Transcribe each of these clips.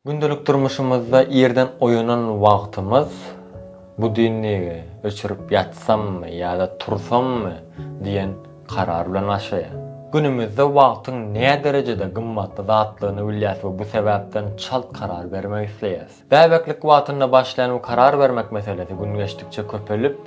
Gündelik durmuşymyzda irden oýanan wagtymyz budilnigi öçürip ýatsammy ýa-da tursammy diýen karar bilen başlaýar. Günümizde wagtyň näderejede gymmatly zatdygyny bilýäs we bu sebäpden çalt karar bermek isleýäs. Bäbeklik wagtynda başlaýan bu karar bermek meselesi gün geçdikçe köpelip,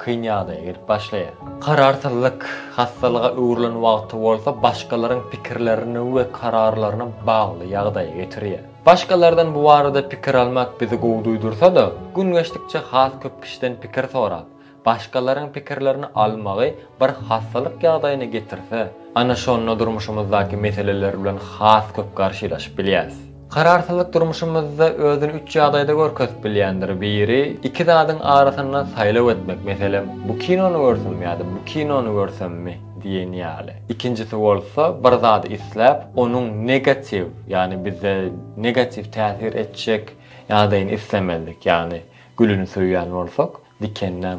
kyn ýagdaýa gelip başlaýar. Kararsyzlyk hassalyga öwrülen wagty bolsa başgalaryň pikirlerine we kararlaryna bagly ýagdaýa getirýär. Başgalardan bu barada pikir almak bizi gowy duýdursa-da, gün geçdikçe has köp kişiden pikir sorap, başgalaryň pikirlerini almagy bir hassalyk ýagdaýyna getirse, ana şonda durmuşymyzdaky meseleler bilen has köp garşylaşyp bilýäris. Kararsyzlyk durmuşymyzda özüni üç ýagdaýda görkezip bilýändir. Biri, iki zadyň arasynda saýlaw etmek, meselem, bu kinony görsem ýa-da bu kinony görsemmi diýen ýaly. Ikinjisi bolsa, bir zady isläp, onuň negatiw, ýagny bize negatiw täsir etjek ýagdaýyny islemelik, ýagny gülüni söýýän bolsak, dikenläň.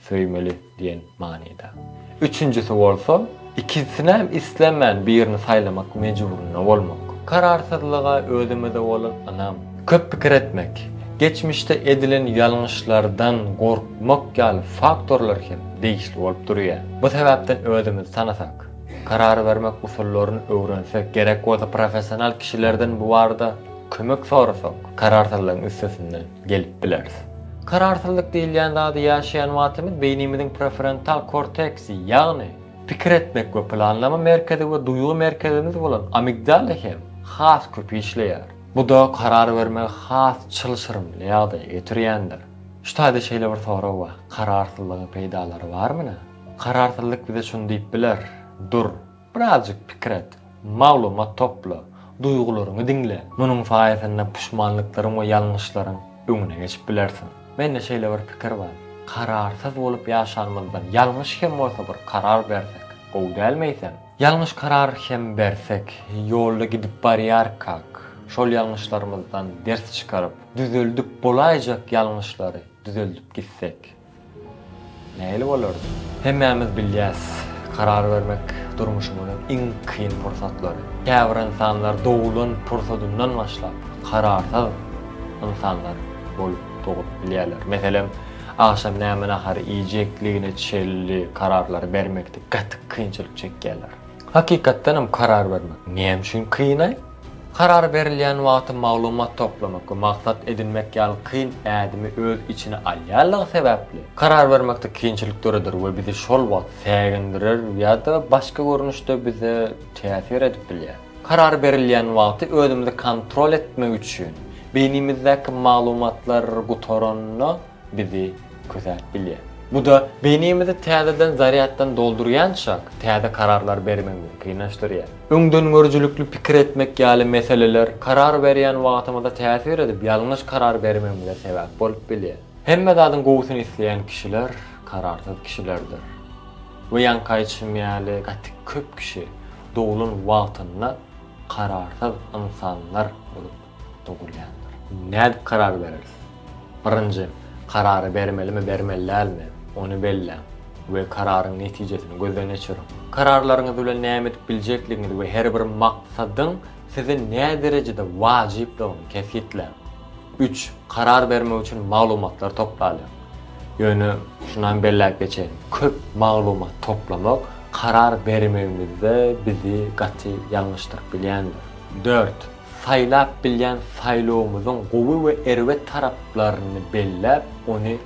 söýmeli diýen manyda. Üçünjisi bolsa, ikisinem islemän birini saýlamak mejburynda bolmak. Kararsyzlyga özümize bolan ynam, köp pikir etmek, geçmişde edilen ýalňyşlardan gorkmak ýaly faktorlar hem degişli bolup durýar. Bu sebäpden özümizi tanasak, karar bermek usullaryny öwrensek, gerek bolsa professional kişilerden bu barada kömek sorasak, kararsyzlygyň üstesinden. gelip bileris. Kararsyzlyk diýilýän zady ýaşaýan wagtymyz beýnimiziň prefrontal korteksi, ýagny pikir etmek we planlama merkezi we duýgy merkezimiz bolan amigdala hem has köp işleýär. Bu-da karar bermegi has çylşyrymly ýagdaýa getirýändir. Şu taýda şeýle bir sorag bar, kararsyzlygyň peýdalary barmyna? Kararsyzlyk bize şuny diýip biler, Dur! Birazjyk pikir et, maglumat topla, duýgularyňy diňle. Munuň saýasynda puşmanlyklaryň we ýalňyşlaryň öňüne geçip bilersiň. Mende şeýle bir pikir bar, kararsyz bolup ýaşanymyzdan, ýalňyş hem bolsa bir karar bersek, gowy dälmi eýsem? Ýalňyş karar hem bersek, ýolda gidip barýarkak, şol ýalňyşlarymyzdan ders çykaryp, düzeldip bolaýjak ýalňyşlary düzeldip gitsek. Nähili bolardy? Hemmämiz bilýäs, karar bermek durmuşymyzyň iň kyn pursatlary. Käbir ynsanlar doglan pursadyndan başlap, kararsyz ynsanlar bolup dogup bilýärler. Meselem, agşam näme nahary iýjekligine çenli kararlary bermekde gaty kynçylyk çekýärler. Hakykatdanam karar bermek näme üçin kyn-aý? Karar berilýän wagty maglumat toplamak we maksat edinmek ýaly kyn ädimi öz içine alýanlygy sebäpli, karar bermekde kynçylyk döreder we bizi şol wagt sägindirer ýa-da başga görnüşde bize täsir edip bilýär. Karar berilýän wagty özümizi kontrol etmek üçin, beýnimizdäki maglumatlar gutaranda, bizi küsäp bilýär. Bu-da beýnimizi täzeden zarýaddan doldurýançak, täze kararlar bermegi mümkinleşdirýär. Öňdengörüjilikli pikir etmek ýaly meseleler karar berýän wagtymyza täsir edip, ýalňyş karar bermegimize sebäp bolup bilýär. Hemme zadyň gowusyny isleýän kişiler kararsyz kişilerdir. We ýaňky aýdyşym ýaly, gaty köp kişi doglan wagtynda kararsyz ynsanlar bolup. dogulýandyr. Nädip karar bereris? Birinji, karary bermelimi, bermeli dälmi, ony belläň we kararyň netijesini gözden geçiriň. Kararlaryňyz bilen näme edip biljekligiňizi we her bir maksadyň size näderejede wajypdygyny kesgitläň. Üç, karar bermek üçin maglumatlar toplalyň. Ýöne şunam belläp geçeýin, köp maglumat toplamak karar bermegimizde bizi gaty ýalňyşdyryp bilýändir. Dört, Saýlap bilýän saýlawymyzyň gowy we erbet taraplaryny belläp, ony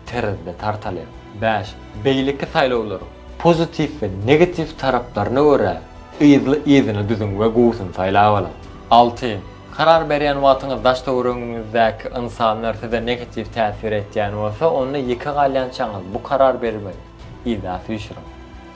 terezide tartalyň. Bäş. Beýleki saýlawlaryň pozitiw we negatiw taraplaryna görä yzly-yzyna düzüň we gowusyny saýlap alyň. Alty. Karar berýän wagtyňyz daş-töweregiňizdäki ynsanlar size negatiw täsir etýän bolsa, onda ýeke galýançaňyz bu karar bermegi yza süýşüriň.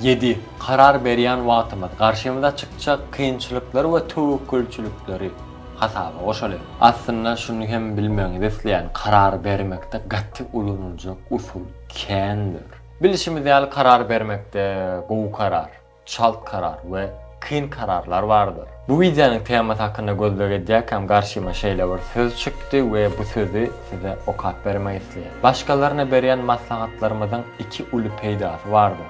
Ýedi, karar berýän wagtymyz, garşymyza çykjak kynçylyklary we töwekgelçilikleri hasaba goşaly. Aslynda şuny hem bilmegiňizi isleýän, karar bermekde gaty ulanyljak usul kändir. Bilşimiz ýaly karar bermekde gowy karar, çalt karar we. kyn kararlar bardyr. Bu wideonyň temasy hakynda gözleg edýärkäm garşyma şeýle bir söz çykdy we bu sözi size okap bermek isleýän. Başgalaryna berýän maslahatlarymyzyň iki uly peýdasy bardyr.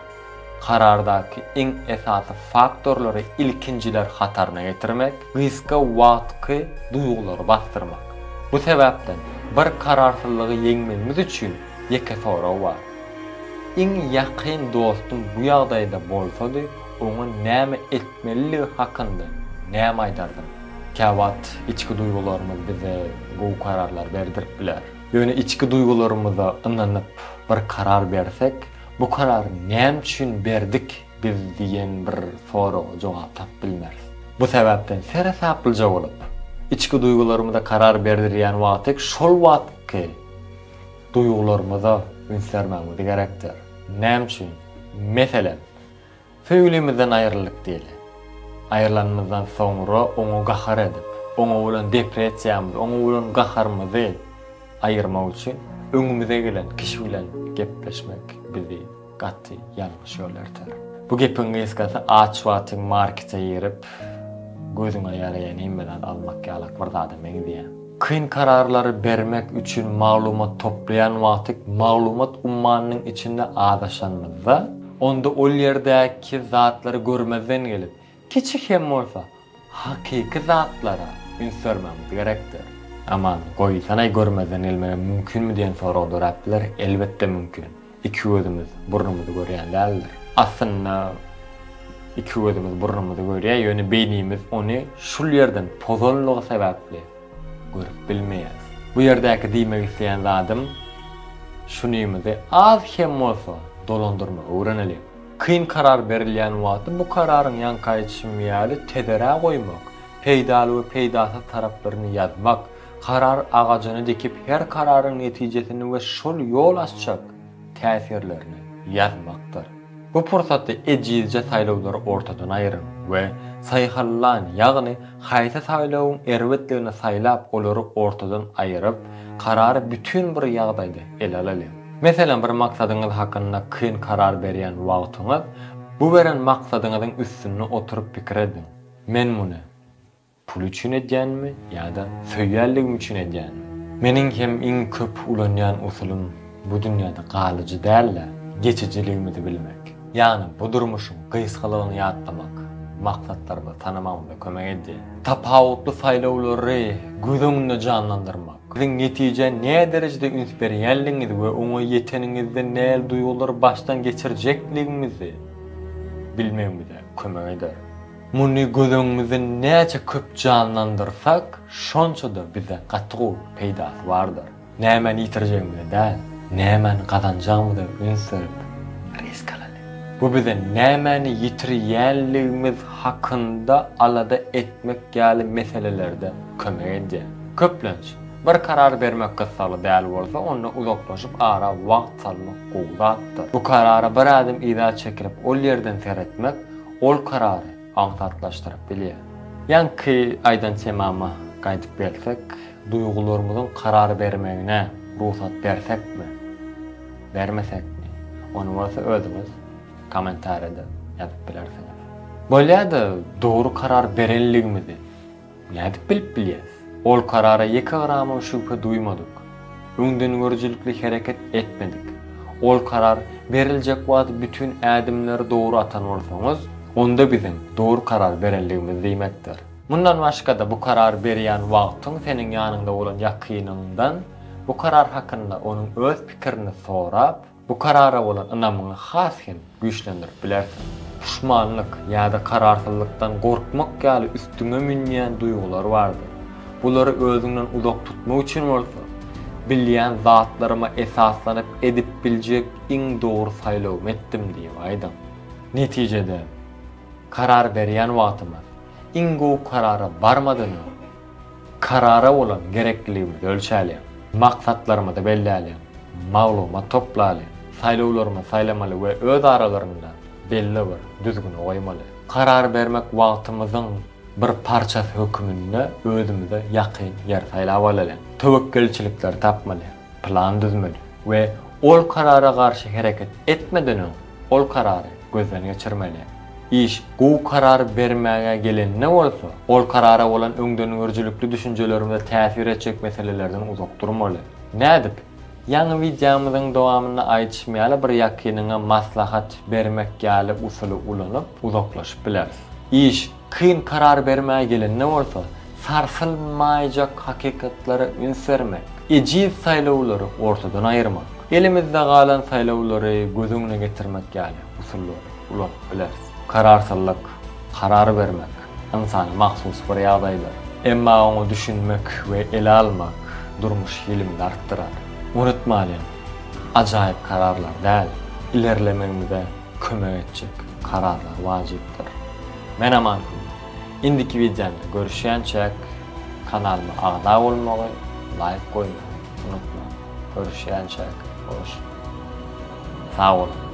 Karardaky iň esasy faktorlary ilkinjiler hataryna getirmek, gysga wagtky duýgulary basdyrmak. Bu sebäpden bir kararsyzlygy ýeňmegimiz üçin ýeke sorag bar. Iň ýakyn dostum bu ýagdaýda bolsady Oňa näme etmeliligi hakynda näme aýdardyň? Käwagt içki duýgularymyz bize gowy kararlar berdirip biler. Ýöne içki duýgularymyza ynanyp bir karar bersek, bu karary näme üçin berdik biz diýen bir soraga jogap tapyp bilmeris. Bu sebäpden seresaplyja bolup, içki duýgularymyza karar berdirýän wagty şol wagtky duýgularymyza üns bermegimiz gerekdir. Näme üçin? Meselem. Söýgülimizden aýryldyk diýeli. Aýrylanymyzdan soňra oňa gahar edip, oňa bolan depressiýamyzy, oňa bolan gaharymyzy aýyrmak üçin öňümize gelen kişi bilen gepleşmek bizi gaty ýalňyş ýola elter. Bu gepiň gysgasy aç wagtyň markete girip, gözüňe ýaraýan hemme zady almak ýalak bir zada meňzeýär. Kyn kararlary bermek üçin maglumat toplaýan wagtyk maglumat ummanynyň içinde azaşanymyzda, onda ol ýerdäki zatlary görmezden gelip, kiçi hem bolsa, hakyky zatlara üns bermegimiz gerekdir. Aman, goýsanaý görmezden gelmegem mümkinmi diýen sorag dörap biler, elbetde mümkin. Iki gözümiz burnumyzy görýän däldir. Aslynda iki gözümiz burnumyzy görýär, ýöne beýnimiz ony şul ýerden pozanlygy sebäpli görüp bilmeýär. Bu ýerdäki diýmek isleýän zadym, şunymyzy az hem bolsa dolandyrmagy öwreneliň. Kyn karar berilýän wagty bu kararyň ýaňky aýdyşym ýaly tezerä goýmak, peýdaly we peýdasyz taraplaryny ýazmak, Karar agajyny dikip her kararyň netijesini we şol ýol açjak täsirlerini ýazmakdyr. Bu pursatda ejizje saýlawlary ortadan aýyryň we saýhallan, ýagny haýsy saýlawyň erbetligini saýlap olary ortadan aýyryp, karary bütin bir ýagdaýda ele alalyň. Meselem bir maksadyňyz hakynda kyn karar berýän wagtyňyz, bu beren maksadyňyzyň üstünde oturyp pikir ediň, Men muny. Pul üçin edýänmi ýa-da söýýänligim üçin edýänmi? Meniň hem iň köp ulanýan usulym bu dünýäde galyjy däl-de, geçijiligimizi bilmek. Ýagny bu durmuşyň gysgalygyny ýatlamak, maksatlarymyzy tanamagymyza kömek edýär. Tapawutly saýlawlary göz öňünde janlandyrmak, siziň netijä näderejede üns berýänligiňizi we oňa ýeteniňizde nähili duýgulary başdan geçirjekligiňizi bilmegimize kömek eder. Muny göz öňümizde näçe köp janlandyrsak, şonça-da bize gaty gowy peýdasy bardyr. Nämäni ýitirjegimize däl, nämäni gazanjagymyza üns berip, risk alaly. Bu bize nämäni ýitirýänligimiz hakynda alada etmek ýaly meselelerde kömek edýär. Köplenç, bir karar bermek gyssagly däl bolsa, onda uzaklaşyp ara wagt salmak gowy zatdyr. Bu karara bir ädim yza çekilip, ol ýerden seretmek, Ol karary aňsatlaşdyryp bilýär. Ýaňky aýdan temama gaýdyp gelsek, duýgularymyzyň karar bermegine rugsat bersekmi, bermesekmi, ony bolsa özüňiz kommentariýada ýazyp bilersiňiz. Bolýa-da, dogry karar berenligimizi Nädip bilip bilýäs? Ol karara ýeke gramam şübhe duýmadyk. Öňdengörüjilikli hereket etmedik. Ol karar beriljek wagt bütin ädimleri dogry atan bolsaňyz, onda biziň dogry karar berendigimiz diýmekdir. Mundan başga-da bu karar berýän wagtyň seniň ýanyňda bolan ýakynyňdan bu karar hakynda onuň öz pikirini sorap, Bu karara bolan ynamyňy has hem güýçlendirip bilersiň. Puşmanlyk ýa-da kararsyzlykdan gorkmak ýaly üstüňe münýän duýgular bardyr. Bulary özüňden uzak tutmak üçin bolsa, bilýän zatlaryma esaslanyp edip biljek iň dogry saýlawymy etdim diýip aýdyň. Netijede, karar berýän wagtymyz iň gowy karara barmadan öň, Karara bolan gerekliligimizi ölçäliň. Maksatlarymyzy belläliň. Maglumat toplalyň. Saýlawlarymyzy saýlamaly we öz aralarynda belli bir düzgüni goýmaly. Karar bermek wagtymyzyň bir parçasy höküminde özümize ýakyn ýeri saýlap alalyň. Töwekgelçilikleri tapmaly. plan düzmeli we ol karara garşy hereket etmeden öň ol karary gözden geçirmeli. Iş gowy karar bermäge gelende bolsa, ol karara bolan öňdengörüjilikli düşünjelerimize täsir etjek meselelerden uzak durmaly. Nädip? Ýaňy wideomyzyň dowamynda aýdyşym ýaly bir ýakynyňa maslahat bermek ýaly usuly ulanyp uzaklaşyp bileris. Iş Kyn karar bermäge gelende bolsa, sarsylmaýjak hakykatlara üns bermek, ejiz saýlawlary ortadan aýyrmak, elimizde galan saýlawlary göz öňüne getirmek ýaly usullary ulanyp bileris. Kararsyzlyk, karar bermek, ynsana mahsus bir ýagdaýdyr. Emma oňa düşünmek we ele almak durmuş hilimizi artdyrar. Unutmalyň, ajaýyp kararlar däl, ilerlemegimize kömek etjek kararlar wajypdyr. Men Aman Kül. Indiki wideomda görüşýänçäk kanalyma agza bolmagy, laýk goýmagy unutmaň. Görüşýänçäk hoş boluň. Sag boluň.